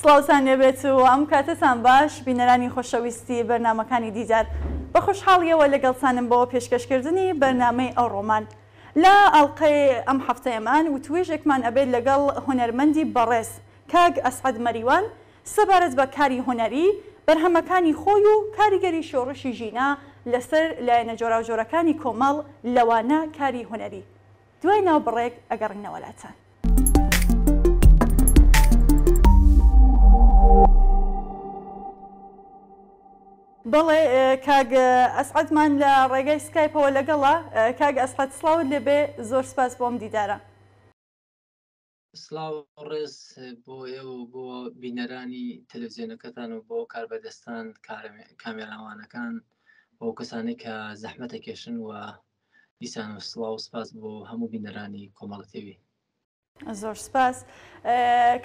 سڵاوتان لێبێت و ئەم کاتەتان باش بینەرانی خۆشەویستی بەرنامەکانی دیدار بە خۆشحاڵیەوە لەگەڵتانم بۆ پێشکەشکردنی بەرنامەی ئەوڕۆمان لە ئاڵقەی ئەم حەفتەیەمان وتوێژێکمان ئەبێت لەگەڵ هونەرمەندی بەڕێز کاک ئەسعەد مەریوان سەبارەت بە کاری هونەری بەرهەمەکانی خۆی و کاریگەری شۆڕشی ژینا لەسەر لایەنە جۆراوجۆرەکانی کۆمەڵ لەوانە کاری هونەری دوای ناوبڕێک ئەگەڕینەوە لاتان. بەڵێ کاک ئەسعەدمان لە ڕێگای سکایپەوە لەگەڵە کاک ئەسحەد سڵاوت لێبێ زۆر سپاس بۆم دیدارە. سلاو ڕێز بۆ ئێوە بۆ بینەرانی تەلەزیۆنەکەتان و بۆ کاربەدەستان کامێراوانەکان بۆ کەسانی کە زەحمەتە کێشن و دیسان و سلااو سپاس بۆ هەموو بینەرانی کۆمەڵەتەوی زۆر سپاس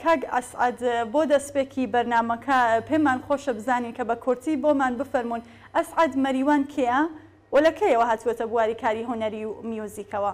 کاک ئەسعد بۆ دەستپێکی بەرنمەکە پێمان خۆشە بزانین کە بە کورتی بۆمان بفەرمونون ئەسعد مەریوان کێە و لەکەیەوە هاتووەتە بواری کاری هۆنەری و میوزیکەوە.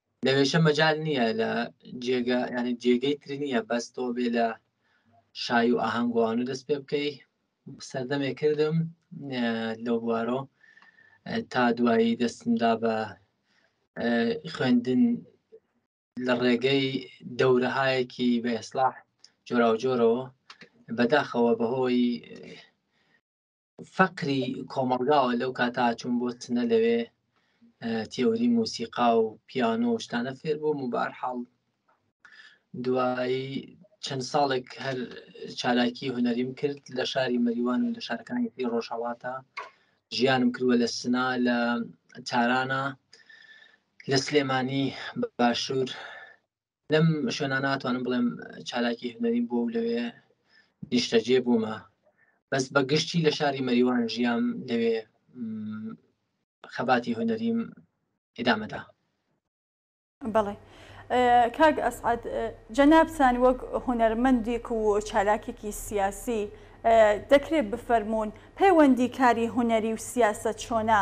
لەوێشە مەجال نییە لە جێگە ینی جێگەی تری نییە بەس تۆ بێ لە شای و ئاهەنگوانە دەست پێ بکەی سەردەمێ کردم لەو بوارۆ تا دوایی دەستمدا بە خوێندن لە ڕێگەی دەورەهایەکی بە ئێسلاح جۆراوجۆرەوە بەداخەوە بەهۆی فەقری کۆمەڵگاوە لەو کاتا چون بۆ تنە لەوێ تێوری موسیقا و پیانۆ و شتانە فێر بووم و بار حاڵ دوایی چەند ساڵێک هەر چالاکی هوەریم کرد لە شاری مەریوان و لە شارەکانی پێ ڕۆژهڵاتە ژیانم کردوە لە سنا لە تارانە لە سلێمانی باشوور لەم شوێنە ناتوانم بڵێم چالاکی هەنەریم بۆ لەوێ نیشتەجێ بوومە بەس بە گشتی لە شاری مەریوان ژیام لەوێ خەباتی هەنەریم ئدامەدا بڵێ کاک ئەسعات جەنابسان وەک هوەرمەندێک و چالاکێکی سیاسی دەکرێت بفەرمونون پەیوەندی کاری هوەری و سیاست چۆنا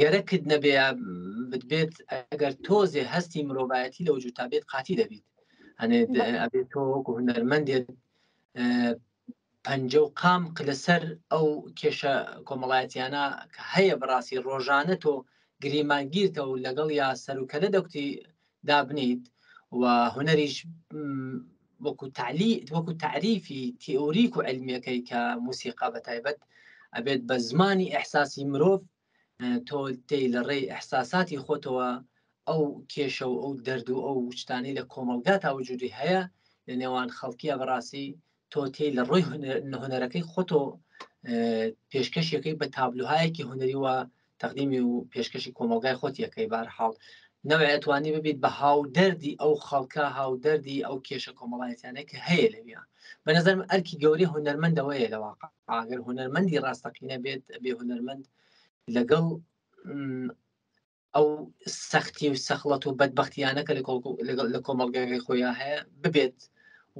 گەرەکت نەبێ بتبێت ئەگەر تۆزێ هەستی مرۆڤایەتی لەو جوتا بێت قاتی دەبیت هەنێ ئەبێت تۆ وەکو هونەرمەندێت پەنج و قام لەسەر ئەو کێشە کۆمەڵایەتیانە کە هەیە بەڕاستی ڕۆژانە تۆ گریمانگیرتە و لەگەڵ یا سەرکەلە دەکتی دابنیت و هونەریش وەکو تعلی وەکو تعریفی تئوریک و علمیەکەی کە موسیقا بە تایبەت ئەبێت بە زمانی ئەحساسی مرۆڤ تۆ تێی لە ڕێی ئەحساساتی خۆتەوە ئەو کێشە و ئەو دەرد و ئەو شتانی لە کۆمەلگا تاوجودی هەیە لە نێوان خەڵکیە بەڕاستی تۆ تێ لە ڕۆی هونەرەکەی خۆتۆ پێشکەشیەکەی بە تابلوهایەکی هونەری وە تەقدیمی و پێشکەشی کۆمەلگای خۆتیەکەی بارحاڵ نەوەێ توانی ببیت بە هاو دەردی ئەو خەڵکە هاو دەردی ئەو کێشە کۆمەڵایەتیانە کە هەیە لەویا بە نظرم ئەرکی گەوری هونەرمەندەوەیە لە واقع ئاگەر هونەرمەندی ڕاستەقینە بێت بێ هونەرمەند لەگەڵ ئەو سەختی و سەخڵەت و بەدبختیانە کە لە کۆمەڵگەی خۆیان هەیە ببێت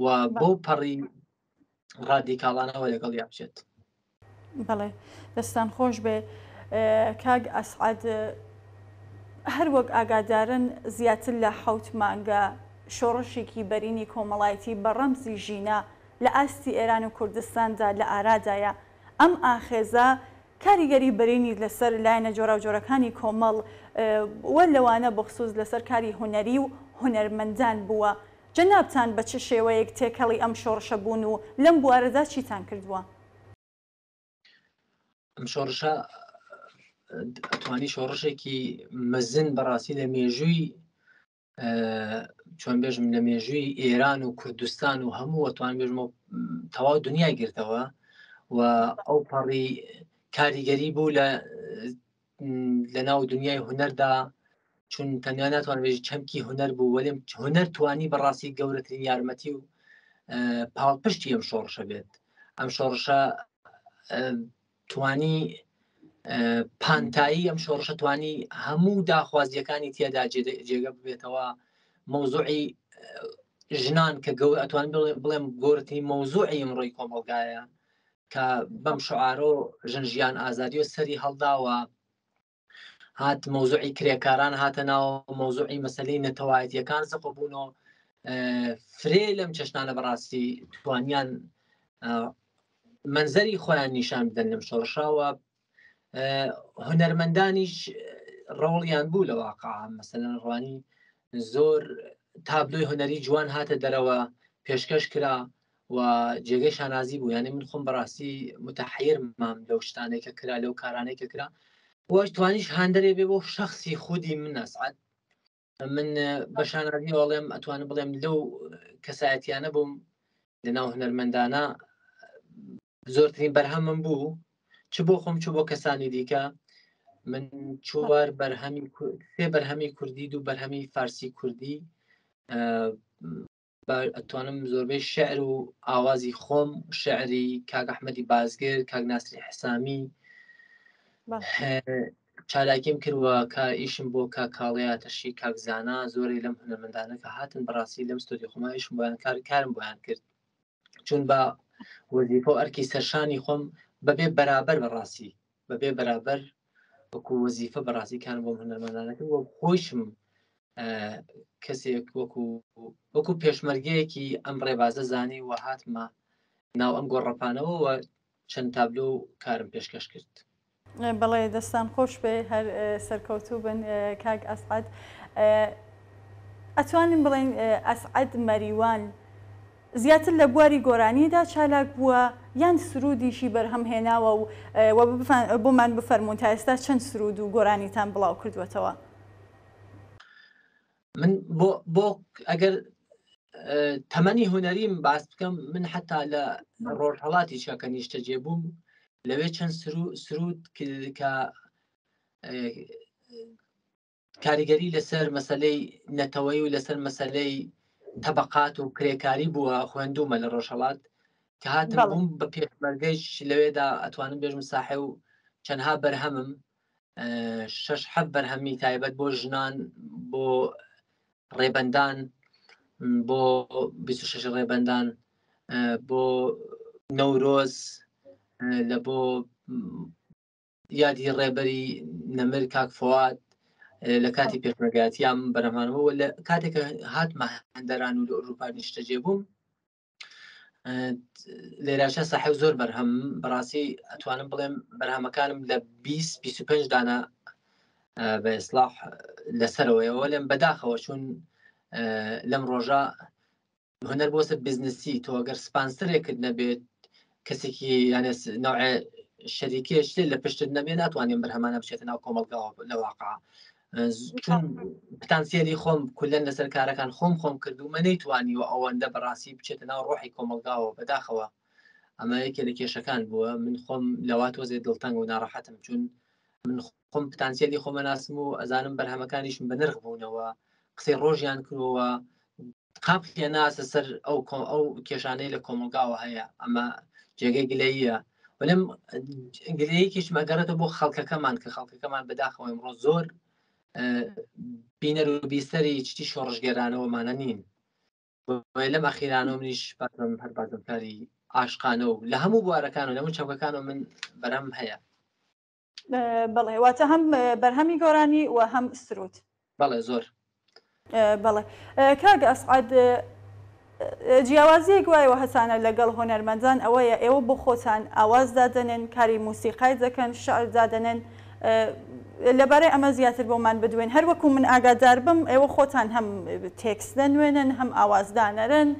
و بۆ پەڕی ڕادیکاڵانەوە لەگەڵ یا بچێت بڵێ دەستان خۆش بێ کاگ ئەسعاد هەر وەک ئاگادارن زیاتر لە حوت مانگە شۆڕشێکی بەرینی کۆمەڵایەتی بە ڕەمزی ژینا لە ئاستی ئێران و کوردستاندا لە ئارادایە ئەم ئاخێزە کاریگەری بەرینی لەسەر لایەنە جۆراوجۆرەکانی کۆمەڵ و لەوانە بەخسووس لەسەر کاری هونەری و هونەرمەندان بووە. جەنابتان بە چ شێوەیەک تێکەڵی ئەم شۆڕشە بوون و لەم بوارەدا چیتان کردووە؟ ئەم شۆڕشە ئەتوانی شۆڕشێکی مەزن بەڕاستی لە مێژووی چۆن بێژم لە مێژووی ئێران و کوردستان و هەموو ئەتوان بێژمە تەواو دنیای گرتەوە و ئەو پەڕی کاریگەری بوو لە لە ناو دنیای هوەردا چون تەنیا ناتوان بێژ چەمکی هوەر بوو وەێم هوەر توانی بەڕاستی گەورەترین یارمەتی و پاڵپشتی ئەم شۆڕشە بێت ئەم شۆڕشە توانی پانتایی ئەم شۆڕشە توانی هەموو داخوازیەکانی تێدا جێگە ببێتەوە مەوزوعی ژنان کە گەور ئەتوان بڵێم گۆرتنی مەوزوعی ئمڕۆی کۆمەلگایە کە بەم شعارۆ ژن ژیان ئازادی و سەری هەڵداوە هات مەوزوعی کرێکاران هاتە ناو مەوزوعی مەسلەی نەتەوایەتیەکان زەقە بوونەوە فرێ لەم چەشتانە بەڕاستی توانیان منزەری خۆیان نیشان بدەن لەم شۆڕشاوە هەنەرمەندانیش ڕۆڵیان بوو لە واقع مەسەن ڕوانی زۆر تابلۆی هونەری جوان هاتە دەرەوە پێشکەش کرا و جێگەی شانازی بوو یانە من خۆم بەڕاستی متحیر مام لەو شتانێک کە کرا لەو کارانێک کە کرا وەش توانیش هاندەرێ بێ بۆ شخصی خودی من نسعات من بە شانازی وڵێم ئەتوانم بڵێم لەو کەسایەتیانە بووم لە ناو هەرمەندانە زۆرترین بەرهەمم بوو چ بۆ خۆم چ بۆ کەسانی دیکە من چوار بەرهەمی سێ بەرهەمی کوردی دوو بەرهەمی فارسی کوردی ئەتوانم زۆربەی شعر و ئاوازی خۆم شعری کاگەحمەدی بازگر کاک ناسری حسامی چالاکیم کردوە کە ئیشم بۆ کا کاڵەیەتەشی کاکزانە زۆری لەم هەنەمەندانە کە هاتن بەڕاستی لەم ستۆدی خۆمایشم بۆیان کار کارم بۆیان کرد چون بە وەزیفە و ئەرکی سەرشانی خۆم بەبێ بەرابەر بەڕاستی بەبێ بەرابەر وەکو وەزیفە بەڕاستی کار بۆم هەنەمانانەکە وە خۆشم کەسێک وەکو وەکو پێشمەرگەیەکی ئەم ڕێبازە زانی و هاتمە ناو ئەم گۆڕەپانەوە چەند تابلۆ و کارم پێشکەش کرد. بەڵێ دەستان خۆش بێ هەر سەرکەوتوو بن کاک ئەسعەد ئەتوانین بڵێن ئەسعەد مەریوان زیاتر لە بواری گۆرانیدا چالاک بووە یان سرودیشی بەرهەم هێناوە و بۆمان بفەرمونون تا ئێستا چەند سرود و گۆرانیتان بڵاو کردوێتەوە من بۆ بۆ ئەگەر تەمەنی هوەریم باس بکەم من حتا لە ڕۆژهڵاتی چەکە نیشتەجێ بووم لەوێ چەند سرود کە کاریگەری لەسەر مەسلەی نەتەوەی و لەسەر مەسلەی تەبقات و کرێکاری بووە خوێندومە لە ڕۆژهڵات کە هاتم بووم بە پێشمەرگەیش لەوێدا ئەتوانم بێژم ساحێ و چەندها بەرهەمم شش حەب بەرهەمی تایبەت بۆ ژنان بۆ ڕێبندان بۆ 26 ڕێبندان بۆ نەورۆز لە بۆ یادی ڕێبەری نەمر کاک فواد لە کاتی پێشمەگاتیان بەرەمانەوە لە کاتێکە هاتمە هەندەران و لە ئۆروپا نیشتەجێ بووم لێراشە ساحب زۆر بەرهەم بەڕاستی ئەتوانم بڵێم بەرهەمەکانم لە 25 دانا بە ئسلاح لەسەرەوەیەوە لەم بەداخەوە چون لەم ڕۆژە هەنەر بۆسە بزنسی تۆ ئەگەر سپانسرێکرد نەبێت کەسێکی یانە نوعێ شەریکێ شتێ لە پشتت نەبێ ناتوانین بەرهەمانە بچێتە ناو کۆمەڵگاوە لە واقع چون پتانسیلی خۆم کولەن لەسەر کارەکان خۆم خۆم کردومە نەیتوانی و ئەوەندە بەڕاستی بچێتە ناو ڕۆحی کۆمەلگاوە بەداخەوە ئەمە یەکێ لە کێشەکان بووە من خۆم لەوا تۆزێ دڵتەنگ و ناڕەحەتم چون من خۆم پتانسیلی خۆمەناسم و ئەزانم بەرهەمەکانیشم بە نرخ بوونەوە قسەی ڕۆژیان کرۆوە قاپ خێناسە سەر ئەو ئەو کێشانەی لە کۆمەلگاوە هەیە ئەمە جێگەی گلەیە ولم گرەیەکیش مەگەڕێتە بۆ خەڵکەکەمان کە خەڵکەکەمان بەداخەوە ئەمڕۆ زۆر بینەر و بیستەری چتی شۆڕژگەرانەوەمانە نین لەم ئەخیرانەوە منیش بەم هەر بازمکاری ئاشقانە و لە هەموو بوارەکان و لەمو چەمکەکان و من بەرەم هەیە بەڵێ واتە هەم بەرهەمی گۆرانی و هەم سرود بەڵێ زۆر بەڵێ کاگ ئەسعاد جیاوازیەک وایەوە هەسانە لەگەڵ هۆنەرمەندان ئەوەیە ئێوە بۆ خۆتان ئاواز دادەنێن کاری موسیقای دەکەن شعر دادەنێن لەبارەی ئەمە زیاتر بۆمان بدوێن هەر وەکو من ئاگادار بم ئێوە خۆتان هەم تێکس دەنوێنن هەم ئاوازدانەرن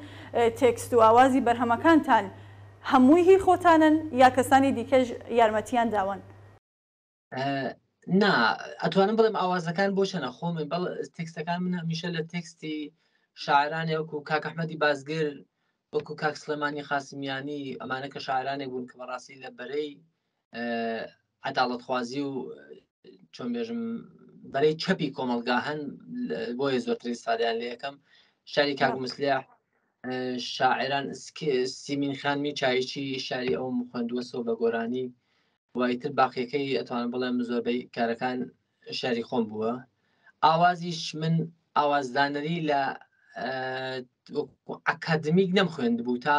تێکست و ئاوازی بەرهەمەکانتان هەمووی هی خۆتانن یا کەسانی دیکەش یارمەتیان داوەن؟ نا ئەتوانم بڵێم ئاوازەکان بۆ چەنە خۆمن بەڵ تێکستەکان من هەمیشە لە تێکستی شاعرانێ وەکو کاک ئەحمەدی بازگر وەکو کاک سلێمانی قاسمیانی ئەمانە کە شاعرانێک بوون کە بەڕاستی لە بەرەی عداڵتخوازی و چۆن بێژم بەرەی چەپی کۆمەلگا هەن بۆیە زۆرتر ئستادیان لە یەکەم شاری کاک مسلیا شاعران سیمین خانمی چایچی شاری ئەو خوێندووە سۆ بە گۆرانی وایتر باقیەکەی ئەتوان بڵێم زۆربەی کارەکان شاری خۆم بووە ئاوازیش من ئاوازدانەری لە ئەکادمیک نەم خوێندبوو تا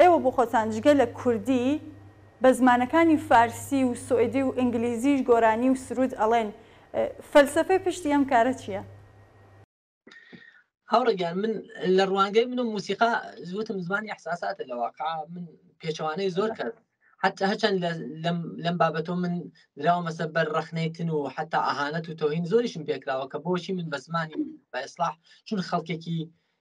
ئێوە بۆ خۆتان جگە لە کوردی بە زمانەکانی فارسی و سوئدی و ئینگلیزیش گۆرانی و سروود ئەڵێن فەلسەفەی پشتی ئەم کارە چییە؟ هاوڕێ گیان من لە ڕوانگەی من و موسیقا زوتم زمانی احساساتە لە واقع من پێچەوانەی زۆر کرد حتى هەچەند لەم بابەتۆ من دراومەسە بەر ڕخنەیتن و حتا ئاهانەت و تۆهین زۆریشم پێکراوە کە بۆچی من بە زمانی بە ئێسلاح چون خەڵکێکی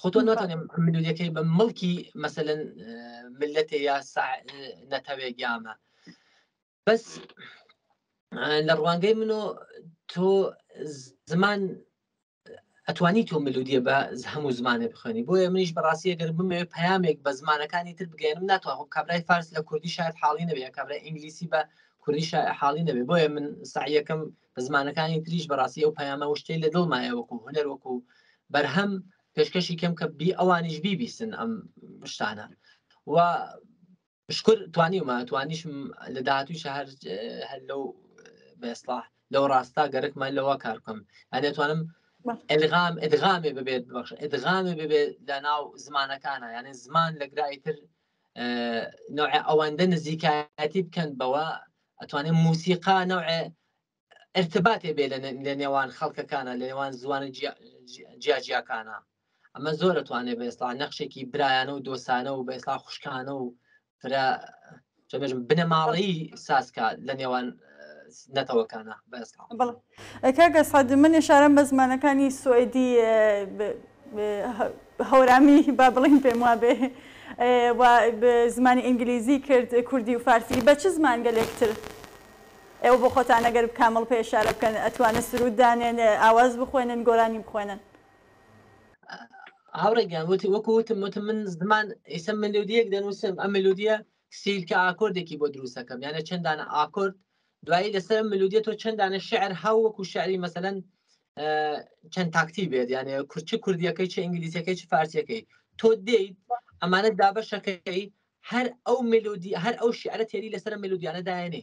خۆ تۆ ناتوانێت ملولەکەی بە مڵکی مەسەن ملەتێ یا نەتەوێ گیامە بەس لە ڕوانگەی منۆ تۆ زمان ئەتوانی تۆ ملودیە بە هەموو زمانێ بخوێنی بۆیە منیش بەڕاستی گەر بمێ پامێک بە زمانەکانی تر بگەێنم ناتوانم کابرای فارس لە کوردی شاید حاڵی نەبێ کابرای ئینگلیسی بە کوردی حاڵی نەبێ بۆیە من سعیەکەم زمانەکانی تریش بەڕاستی ئەو پەیامە وشتەی لە دڵمایە وەکو هونەر وەکو بەرهەم پێشکەشی کەم کە بی ئەوانیش بیبیستن ئەم شتانە و شکر توانیمە توانیشم لە داهاتوی شەهر هەر لەو بێسڵاح لەو ڕاستە گەرەکمە لەوە کارکەم ئەێتوانم ئەلغام ئەدغامێ ببێت بەخش ئەدغامێ ببێت لە ناو زمانەکانە یانە زمان لە گرایتر نوع ئەوەندە نزیکایەتی بکەن بەوە ئەتوانێت موسیقا نوع ارتباتێ بێ لە نێوان خەڵکەکانە لە نێوان زوانە جیاجیاکانە ئەمە زۆر ئەتوانێت بە ئێستا نەخشێکی برایانە و دۆسانە و بە ئێستا خوشکانە و فرە بنەماڵەی ساسکە لە نێوان نەتەوەکانە کاگە سعد من ێشارم بە زمانەکانی سوئدی هەورامی با بڵین پێم وابێ زمانی ئینگلیزی کرد کوردی و فارسی بە چ زمان گەلێکتر ئێوە بۆ خۆتان ئەگەر کامڵ پێ شارە بکەن ئەتوانن سرود دانێن ئاواز بخوێنن گۆرانی بخوێنن هاوڕێگەیان وتی وەکو وتم وتم من زمان ئیسە ملودیەک دەنووسم ئەم ملودیە سیل کە ئاکۆردێکی بۆ دروست ئەکەم یانە چەند دانە ئاکۆرد دوایی لەسەر ئەم ملودیە تۆ چەند دانە شعر هاو وەکو شعری مەسەلەن چەند تاکتی بێت یانە کورچ کوردیەکەی چ ئینگلیزیەکەی چ فارسیەکەی تۆ دێیت ئەمانە دابەشەکەی هەر ئەو ملودی هەر ئەو شعرە تێری لەسەر ملودیانە دایێنێ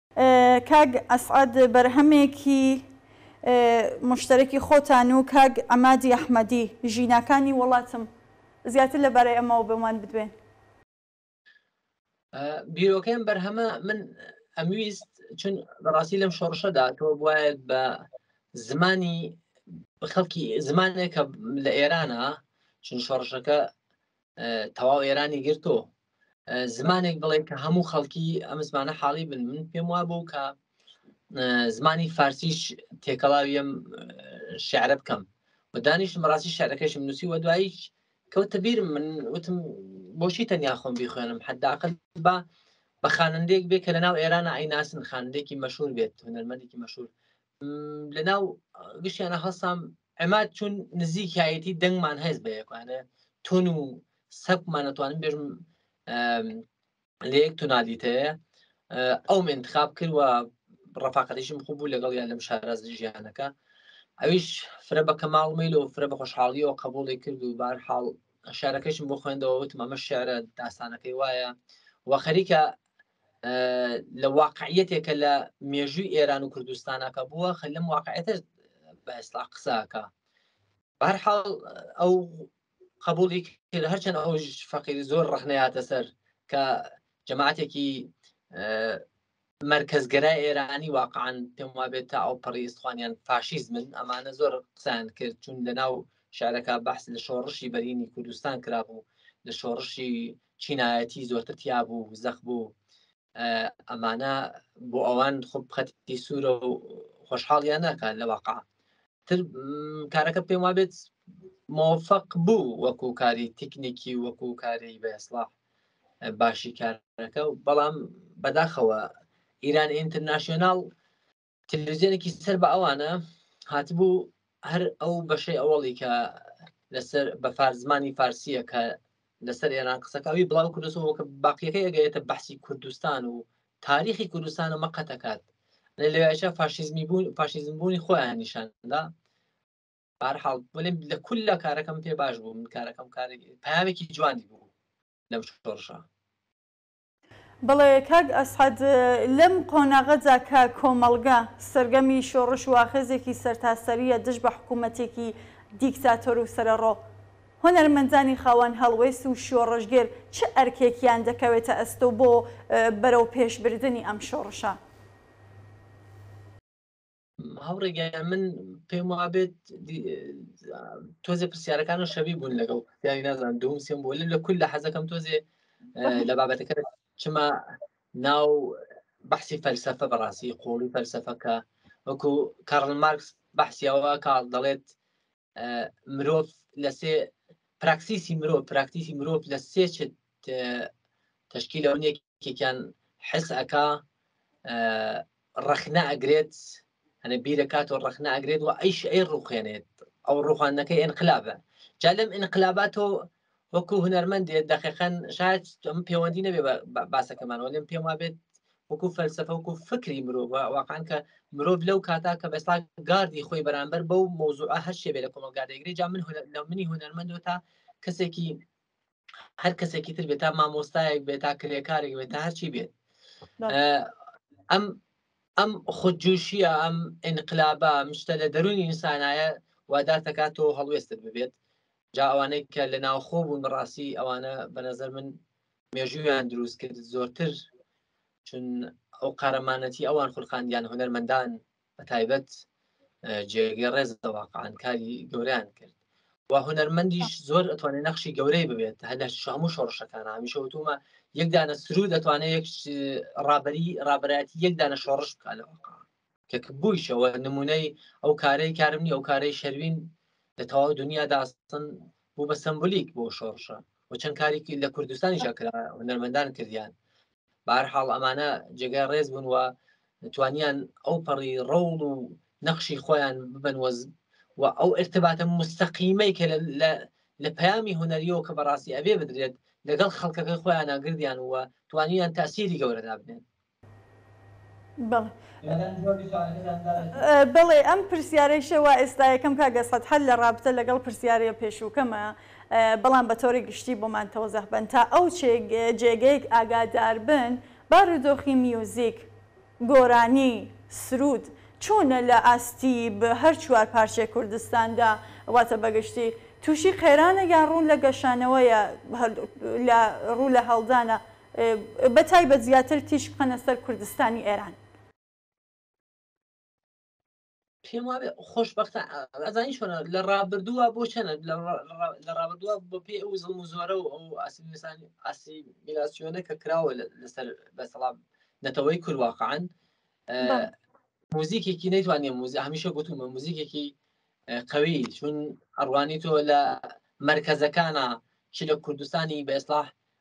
کاک ئەسعەد بەرهەمێکی موشتەرەکی خۆتان و کاک عەمادی ئەحمەدی، ژیناکانی وەڵاتم، زیاتر لەبارەی ئەمەوە بۆمان بدوێن. بیرۆکەی ئەم بەرهەمە من ئەمویست چون بەڕاستی لەم شۆڕشەدا تۆ بواێت بە زمانی خەڵکی زمانێکە لە ئێرانە چون شۆڕشەکە تەواو ئێرانی گرتۆ زمانێک بڵێ کە هەموو خەڵکی ئەم زمانە حاڵی بن من پێم وا بوو کە زمانی فارسیش تێکەڵاویم شعرە بکەم و دانیشتم ڕاستی شعرەکەشم نووسی وە دواییش کەوتە بیر من وتم بۆچی تەنیا خۆم بیخوێنم حداقل با بە خانندێک بێ کە لە ناو ئێرانە ئەیناسن خانندێکی مەشهور بێت هونەرمەندێکی مەشهور لەناو گشتیانە هەستام ئەمات چون نزیکایەتی دەنگمان هەز بە یەکانە تون و سەپمان ئەتوانم بێژم لە یەک تونالیتەیە ئەو منتخاب کردوە ڕفاقەتیشم خوب بوو لەگەڵ یان لەم شارە ژیانەکە ئەویش فرە بە کەماڵمیل و فرە بە خۆشحاڵیەوە قبولی کرد و بار حاڵ شارەکەشم بۆ خوێندەوە وتم ئەمە شعرە داستانەکەی وایە وە خەریکە لە واقعیەتێکە لە مێژووی ئێران و کوردستانەکە بووە خە لەم واقعەتە بەستا قساکە بارحاڵ ئەو قبولی کرد هەرچەند ئەو فەقیر زۆر ڕخنەیاتە سەر کە جەماعاتێکی مرکزگەرای ئێرانی واقعان پێم وابێت تا ئەو پەڕی ئستوانیان فاشیزمن ئەمانە زۆر قسان کرد چون لە ناو شارەکە بەحس لە شۆڕشی بەرینی کوردستان کرابوو لە شۆڕشی چینایەتی زۆرتر تیا بوو زەخ بوو ئەمانە بۆ ئەوان خب خەتی سوورە و خۆشحاڵیان ناکات لە واقع تر کارەکە پێم وابێت مۆفق بوو وەکو کاری تکنیکی وەکو کاری بەسڵاح باشی کارەکە و بەڵام بەداخەوە ئیران ئینترناسیۆناڵ تەلەویزیۆنێکی سەر بە ئەوانە هاتبوو هەر ئەو بەشەی ئەوەڵی کە لەسەر بە فارزمانی فارسیە کە لەسەر ئێران قسەکەوی بڵاو کوردستەوە کە باقیەکەی ئەگەێتە بەحسی کوردستان و تاریخی کوردستانە مەقەتەکات لەوێشە فاشیزمی بوون فاشیزم بوونی خۆیان نیشاندا بارحاڵ بڵێم لە کول لە کارەکەم پێ باش بوو من کارەکەم کارێکی پامێکی جوانی بوو لەم شۆڕشە بەڵێ کاک ئەسعەد، لەم قۆناغەدا کە کۆمەڵگە سەرگەمی شۆڕش واخێزێکی سەرتاسەرییە دژ بە حکوومەتێکی دیکتاتۆر و سەرەڕۆ، هونەرمەندانی خاوەن هەڵوێست و شۆڕشگێر چ ئەرکێکیان دەکەوێتە ئەستۆ بۆ بەرەوپێشبردنی ئەم شۆڕشە؟ هەوڕێگەیان من پێم وابێت تۆزێ پرسیارەکان و شەبی بوون لەگەڵ یانی نازان دوم سێم بۆ لە کول لە حەزەکەم تۆزێ لە بابەتەکە چما ناو بەحسی فەلسفە بەڕاستی قۆڵی فەلسفەکە وەکو کارل مارکس بەحسیەوە کار دەڵێت مرۆڤ لە سێ پراکسیسی مرۆڤ پراکتیسی مرۆڤ لە سێ چ تشکی لە ونێکێکیان حس ئەکا ڕەخنە ئەگرێت هەنە بیرەکات و ڕەخنە ئەگرێت و ئەیش ئەی ڕوخێنێت ئەو ڕوخانەکە ئەنقلابە جا لەم ئەنقلابات و وەکو هونەرمەندێت دەقیقەن شاید ئەم پەیوەندی نەبێ باسەکەمان وەێم پێم وابێت وەکو فەلسفە وەکو فکری مرۆڤ واقعان کە مرۆڤ لەو کاتا کە بەستا گاردی خۆی بەرامبەر بەو مۆزوع هەر شێبێ لە کۆمەلگادەگری جا من لە منی هونەرمەندۆ تا کەسێکی هەر کەسێکی تر بێت تا مامۆستایەک بێت تا کرێکارێک بێت تا هەرچی بێت ئەم ئەم خودجوشیە ئەم ئینقلابە مشتە لە دەرونی ئینسانایە وادار دەکات تۆ هەڵوێستت ببێت جا ئەوانەی کە لە ناوخۆ بوون بەڕاستی ئەوانە بە نەزەر من مێژوویان دروست کرد زۆرتر چون ئەو قارەمانەتی ئەوان خورقاندیان هونەرمەندان بە تایبەت جێگەی ڕێز دەواقعان کاری گەوریان کرد و هونەرمەندیش زۆر ئەتوانێت نەخشی گەورەی ببێت هە لە شەمو شۆڕشەکان هامیشە وتومە یەکدانە سرود دەتوانێت یەک ڕابری ڕابەتی یەکدانە شۆڕش بکە لە واقع کە بوویشەوە نمونەی ئەو کارەی کارم نیە ئەو کارەی شەروین لە تەواو دنیا داستن بوو بە سمبولیک بۆ شۆڕشە و چەند کارێکی لە کوردستانی شکرا هونەرمەندان کردیان بار حاڵ ئەمانە جێگای ڕێز بوون و توانیان ئەو پەڕی ڕەوڵ و نەخشی خۆیان ببن وەز و ئەو ارتباتە مستەقیمەی کە لە پەیامی هوەریەوە کە بەڕاستی ئەبێ بدرێت لەگەڵ خەڵکەکەی خۆیان ناگردیان وە توانیان تاسیری گەورەدا بنێن بەڵێ ئەم پرسیارەیشە وا ئێستا یەکەم کاک ئەسعەد هەر لە ڕابتە لەگەڵ پرسیارە پێشووکەمە بەڵام بە تۆری گشتی بۆمان تەوزەح بەن تا ئەو جێگەیەک ئاگادار بن بارودۆخی میوزیک، گۆرانی، سروود چۆنە لە ئاستی هەر چوار پارچەی کوردستاندا واتە بە گشتی تووشی قەیرانە یان ڕوو لە گەشانەوەیە ڕوو لە هەڵدانە بە تایبەت زیاتر تیشک بخەنە سەر کوردستانی ئێران. پێم وابێ خۆشبەختە ئەزانی چۆنە لە ڕابردووە بۆ چەنە لە ڕابردووە بۆ پێ ئەو زڵم و زۆرە و ئەو ئاسیسان ئاسی میلاسیۆنە کە کراوە لەسەر بەسەڵام نەتەوەی کوردواقعان موزیکێکی نەیتوانێ موزی هەمیشە گوتومە موزیکێکی قوی چون ئەڕوانی تۆ لە مرکزەکانە چ لە کوردستانی بە ئێسلاح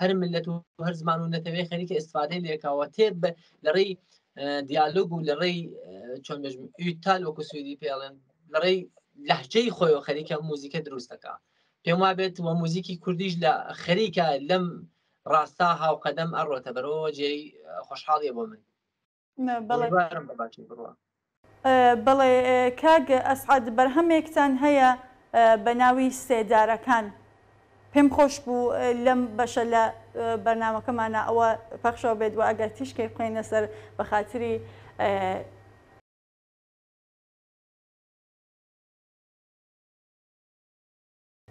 هەر ملت و هەر زمان و نەتەوەی خەریکە ئستفادەی لێکەوە تێت بە لەڕێی دیالۆگ و لەڕێی چۆن تال وەکو سویدی پێڵێن لەڕێی لەحجەی خۆی و خەریکە موزیکە دروستەکە پێم وابێت و موزیکی کوردیش لە خەریکە لەم ڕاستە هاوقەدەم ئەڕۆتە بەرەوە جێی خۆشحاڵیە بۆ من ئومیدوارم بە باچێ بڕوا. بەڵێ کاک ئەسعەد بەرهەمێکتان هەیە بە ناوی سێدارەکان پێم خۆش بوو لەم بەشە لە بەرنامەکەمانە ئەوە پەخشەوە بێت و ئەگەر تیشکێک بخەینە سەر بە خاتری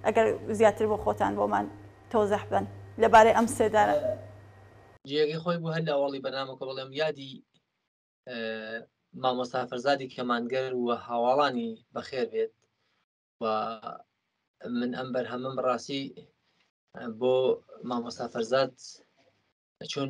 ئەگەر زیاتر بۆ خۆتان بۆمان تۆزح بەن لە بارەی ئەم سێدارە. جێگەی خۆی بوو هەر لە ئەوەڵی بەرنامەکە بڵێم یادی مامۆستا فەرزادی کەمانگەر و هاواڵانی بەخێر بێت و من ئەم بەرهەمم ڕاستی بۆ مامۆستا فەرزاد چون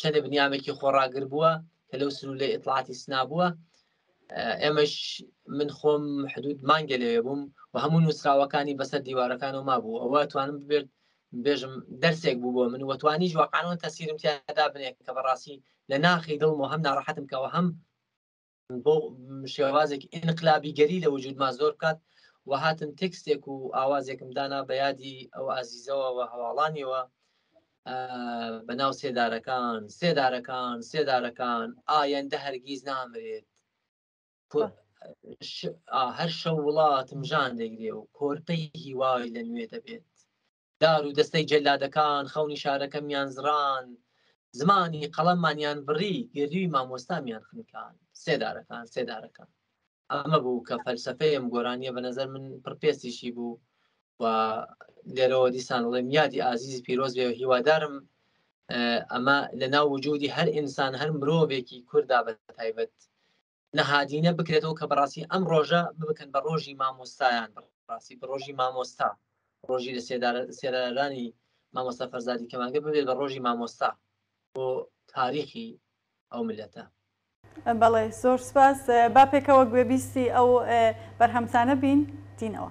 چەندێ بنیامێکی خۆڕاگر بووە کە لەو سرو لە ئیتلااتی سنا بووە ئێمەش من خۆم حدود مانگە لێ بووم و هەموو نووسراوەکانی بەسەر دیوارەکان و ما بوو ئەوە توانم ببێت بێژم دەرسێک بوو بۆ من وەتوانیش وەقانەوە تەسیرم تیادا بنێ کە بەڕاستی لە ناخی دڵم و هەم ناڕەحەتم کەەوە هەم بۆ شێوازێکی ئینقلابیگەری لە وجودما زۆر بکات و هاتم تێکستێک و ئاوازێکم دانا بە یادی ئەو ئازیزەوە و هەواڵانیەوە بە ناو سێدارەکان سێدارەکان سێدارەکان ئایەندە هەرگیز نامرێت هەر شە وڵاتم ژان دەگرێ و کۆرپەی هیوای لە نوێ دەبێت دار و دەستەی جەلادەکان خەونی شارەکەمیان زڕاند، زمانی قەڵەممانیان بڕی، گردووی مامۆستامیان خنکاند. سێدارەکان، سێدارەکان. ئەمە بوو کە فەلسەفەی ئەم گۆرانییە بە نەزەر من پڕپێستیشی بوو و لێرەوە دیسان بڵێم یادی ئازیزی پیرۆز بێ و هیوادارم ئەمە لە ناو وجودی هەر ئینسان هەر مرۆڤێکی کووردا بە تایبەت نەهادینە بکرێتەوە کە بەڕاستی ئەم ڕۆژە بکەن بە ڕۆژی مامۆستایان ڕاستی بە ڕۆژی مامۆستا ڕۆژی لە سێدارانی مامۆستا فەرزادی کەمانگە ببێت بە ڕۆژی مامۆستا بۆ تاریخی ئەو ملەتە بەڵێ زۆر سپاس با پێکەوە گوێبیستی ئەو بەرهەمسانە بین دینەوە.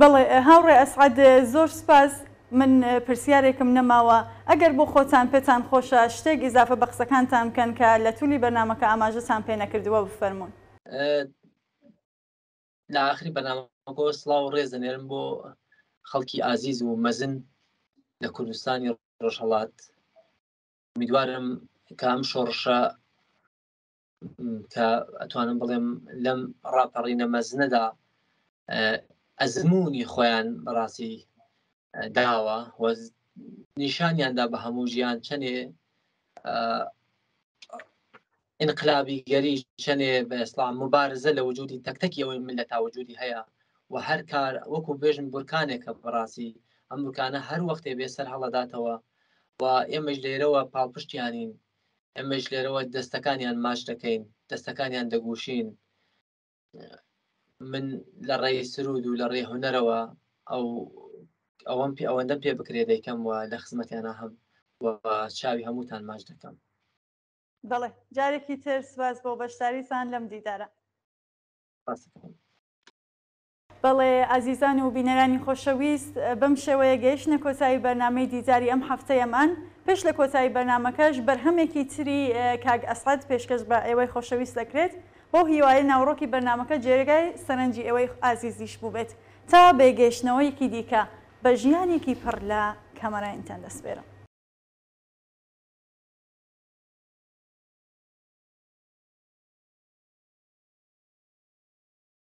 بەڵێ هاوڕێ ئەسعەد زۆر سوپاس، من پرسیارێکم نەماوە ئەگەر بۆ خۆتان پێتان خۆشە شتێک ئیزافە بە قسەکانتان بکەن کە لە تولی بەرنامەکە ئاماژەتان پێ نەکردووە بفەرموون. لە ئاخری بەرنامەکەوە سڵاو و ڕێز دەنێرم بۆ خەڵکی ئازیز و مەزن لە کوردستانی ڕۆژهەڵات، ئومیدوارم کە ئەم شۆڕشە کە ئەتوانم بڵێم لەم ڕاپەڕینە مەزنەدا ئەزمموی خۆیان بەڕاستی داوە نیشانیاندا بە هەموو ژیان چەنێ انقلابی گەری چەنێ بە ئسلام مبارزە لە وجودی تەکتەکی ئەوەی من لە تاوجودی هەیە و هەر کار وەکو بێژن بورکانێکە بەڕاستی ئەم بکانە هەر وەختێ بێ سەر هەڵداتەوە و ئێمەش لێرەوە پاڵپشتیانین ئێمەش لێرەوە دەستەکانیان ماچ دەکەین دەستەکانیان دەگوشین من لە ڕێی سرود و لە ڕێ هوەرەوە ئەو ئەوەم پێ ئەوەندە پێ بکرێ دەیکەم و لە خزمەتیانە هەم و چاوی هەمووتان ماچ دەکەم بەڵێ جارێکی تر سوپاس بۆ بەشداریتان لەم دیدارە. Awesome. بەڵێ ئازیزان و بینەرانی خۆشەویست بەم شێوەیە گەیشتنە کۆتایی بەرنامەی دیداری ئەم هەفتەیەمان، پێش لە کۆتایی بەرنامەکەش بەرهەمێکی تری کاک ئەسعەد پێشکەش بە ئێوەی خۆشەویست دەکرێت، بەو هیوایەی ناوەڕۆکی بەرنامەکە جێرگای سەرنجی ئێوەی ئازیزیش بووبێت، تا بێ گەیشتنەوەیەکی دیکە بە ژیانێکی پڕ لە کەمەرانیتان دەسپێرم.